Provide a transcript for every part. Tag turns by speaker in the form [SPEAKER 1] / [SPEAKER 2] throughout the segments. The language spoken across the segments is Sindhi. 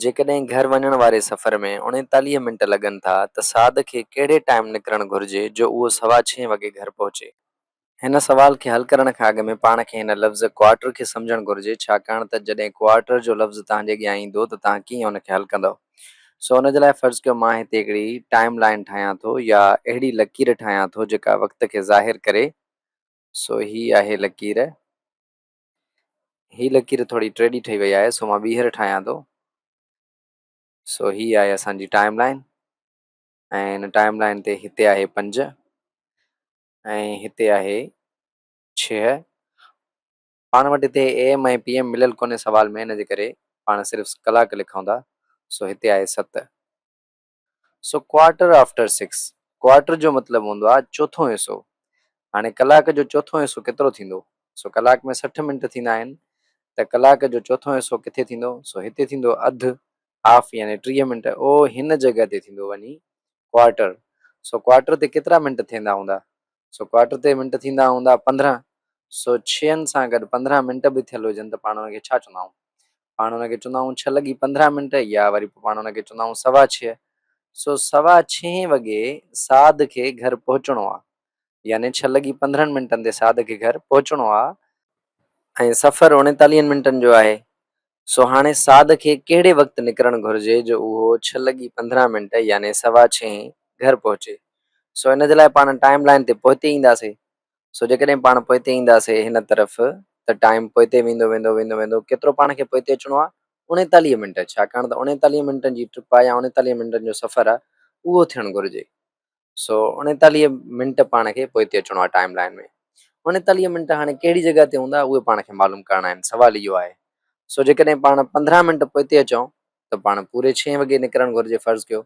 [SPEAKER 1] جيڪڏهن گهر وڃڻ واري سفر ۾ اڻيتاليهه منٽ لڳن ٿا ته سعد کي ڪهڙي ٽائيم نڪرڻ گهرجي جو اهو سوا ڇهين وڳي گهر پهچي؟ هن سوال کي حل ڪرڻ کان اڳ ۾ پاڻ کي هن لفظ ڪوارٽر کي سمجهڻ گهرجي ڇاڪاڻ ته جڏهن ڪوارٽر جو لفظ توهان جي اڳيان ايندو ته توهان ڪيئن ان کي حل ڪندؤ؟ سو ان جي لاء فرض ڪيو مان هتي هڪڙي ٽائيم لائين ٺاهيان ٿو يا اهڙي لڪير ٺاهيان ٿو جيڪا وقت کي ظاهر ڪري سو هي آهي لڪير. هي لڪير ٿوري ٽيڙي ٺهي وئي آهي سو مان ٻيهر ٺاهيان ٿو سو هي آهي اسان جي ٽائم لائن ۽ هن ٽائم لائن تي هتي آهي پنج ۽ هتي آهي ڇهه پاڻ وٽ هتي اي ايم ۽ پي ايم مليل ڪونهي سوال ۾ ان جي ڪري پاڻ صرف ڪلاڪ لکون ٿا سو هتي آهي ست سو ڪوارٽر آفٽر سڪس. ڪوارٽر جو مطلب هوندو آهي چوٿون حصو. هاڻي ڪلاڪ جو چوٿون حصو ڪيترو ٿيندو؟ سو ڪلاڪ ۾ سٺ منٽ ٿيندا آهن ته ڪلاڪ جو چوٿون حصو ڪٿي ٿيندو؟ سو هتي ٿيندو اڌ، هاف، يعني ٽيهه منٽ او هن جڳهه تي ٿيندو وڃي ڪوارٽر. سو ڪوارٽر تي ڪيترا منٽ ٿيندا هوندا؟ سو ڪوارٽر تي منٽ ٿيندا هوندا پندرهن سو ڇهن سان گڏ پندرهن منٽ به ٿيل هجن ته پاڻ ان کي ڇا چوندا آهيون پاڻ ان کي چوندا آهيون ڇهه لڳي پندرهن منٽ يا وري پاڻ ان کي چوندا آهيون سوا ڇهه سو سوا ڇهين وڳي ساڌ کي گهر پهچڻو آهي يعني ڇهه لڳي پندرهن منٽن تي ساڌ کي گهر پهچڻو آهي ۽ سفر اڻيتاليهن منٽن جو آهي سو هاڻي سعد کي ڪهڙي وقت نڪرڻ گهرجي جو اهو ڇهه لڳي پندرهن منٽ يعني سوا ڇهين گهر پهچي. سو ان جي لاء پاڻ ٽائيم لائين تي پوئتي اينداسين. سو جيڪڏهن پاڻ پوئتي اينداسين هن طرف ته ٽائيم پوئتي ويندو ويندو ويندو ويندو ڪيترو پاڻ کي پوئتي اچڻو آ اڻيتاليهه منٽ ڇاڪاڻ ته اڻيتاليهه منٽن جي ٽرپ آ يا اڻيتاليهه منٽن جو سفر آ اهو ٿيڻ گهرجي. سو اڻيتاليهه منٽ پاڻ کي پوئتي اچڻو آهي ٽائيم لائين ۾ اڻيتاليهه منٽ هاڻي ڪهڙي جڳهه تي هوندا اهي پاڻ کي معلوم ڪرڻا آهن سوال اهو آهي سو جيڪڏهن پاڻ پندرهن منٽ پوئتي اچون ته پاڻ پوري ڇهين وڳي نڪرڻ گهرجي فرض ڪيو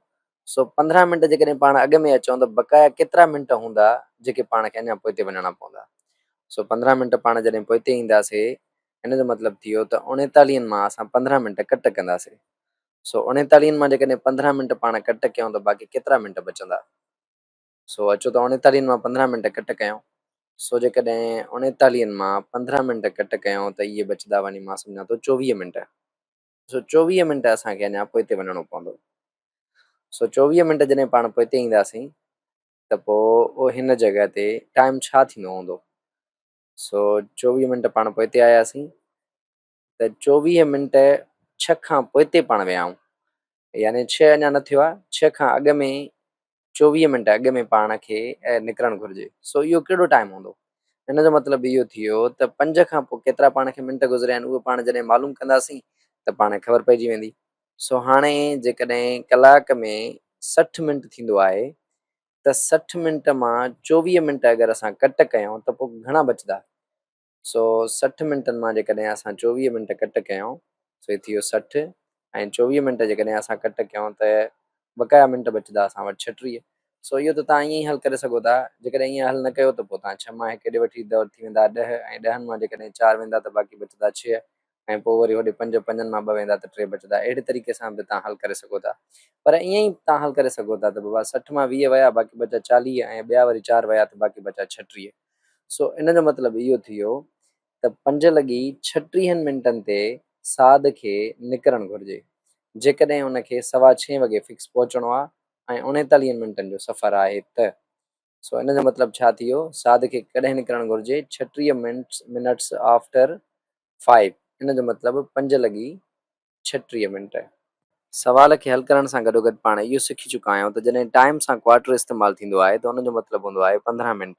[SPEAKER 1] سو پندرهن منٽ جيڪڏهن پاڻ اڳ ۾ اچون ته بقايا ڪيترا منٽ هوندا جيڪي پاڻ کي اڃا پوئتي وڃڻا پوندا سو پندرهن منٽ پاڻ جڏهن پوئتي اينداسي ان جو مطلب ٿي ويو ته اڻيتاليهن مان اسان پندرهن منٽ ڪٽ ڪنداسي سو اوڻيتاليهن مان جيڪڏهن پندرهن منٽ پاڻ ڪٽ ڪيون ته باقي ڪيترا منٽ بچندا؟ سو اچو ته اوڻيتاليهن مان پندرهن منٽ ڪٽ ڪيون. سو جيڪڏهن اوڻيتاليهن مان پندرهن منٽ ڪٽ ڪيون ته اهي بچدا وڃي مان سمجهان ٿو چوويهه منٽ. سو چوويهه منٽ اسان کي اڃا پوئتي وڃڻو پوندو. سو چوويهه منٽ جڏهن پاڻ پوئتي اينداسين ته پوء هن جڳهه تي ٽائيم ڇا ٿيندو هوندو؟ سو چوويهه منٽ پاڻ پوئتي آياسين ته چوويهه منٽ ڇهه کان پوئتي پاڻ ويائون يعني ڇهه اڃا نه ٿيو آهي ڇهه کان اڳ ۾ چوويهه منٽ اڳ ۾ پاڻ کي نڪرڻ گهرجي سو اهو ڪهڙو ٽائيم هوندو ان جو مطلب اهو ٿيو ته پنج کان پوء ڪيترا پاڻ کي منٽ گذريا آهن اهو پاڻ جڏهن معلوم ڪنداسين ته پاڻ کي خبر پئجي ويندي سو هاڻي جيڪڏهن ڪلاڪ ۾ سٺ منٽ ٿيندو آهي ته سٺ منٽ مان چوويهه منٽ اگر اسان ڪٽ ڪيون ته پوء گهڻا بچدا سو سٺ منٽن مان جيڪڏهن اسان چوويهه منٽ ڪٽ ڪيائون سو هي ٿي ويو سٺ ۽ چوويهه منٽ جيڪڏهن اسان ڪٽ ڪيائون ته بقايا منٽ بچدا اسان وٽ ڇهٽيهه سو اهو ته توهان ائين ئي حل ڪري سگهو ٿا جيڪڏهن ائين حل نه ڪيو ته پوء توهان ڇهه مان هڪ ڏي وٺي ته ٿي ويندا ڏهه ۽ ڏهن مان جيڪڏهن چار ويندا ته باقي بچدا ڇهه ۽ پوء وري هوڏي پنج پنجن مان ٻه ويندا ته ٽي بچدا. اهڙي طريقي سان به توهان حل ڪري سگهو ٿا. پر ائين ئي توهان حل ڪري سگهو ٿا ته بابا سٺ مان ويهه ويا باقي بچا چاليهه ۽ ٻيا وري چار ويا ته باقي بچا ڇهٽيهه. سو ان جو مطلب اهو ٿي ويو ته پنج لڳي ڇهٽيهن منٽن تي سعد کي نڪرڻ گهرجي. جيڪڏهن ان کي سوا ڇهين وڳي فڪس پهچڻو آهي ۽ اڻيتاليهن منٽن جو سفر آهي ته سو ان جو مطلب ڇا ٿيو؟ ساڌ کي ڪڏهن نڪرڻ گهرجي؟ ڇٽيهه منٽس آفٽر فائيو ان جو مطلب پنج لڳي ڇٽيهه منٽ. سوال کي حل ڪرڻ سان گڏوگڏ پاڻ اهو سکي چڪا آهيون ته جڏهن ٽائيم سان ڪوارٽر استعمال ٿيندو آهي ته ان جو مطلب هوندو آهي پندرهن منٽ.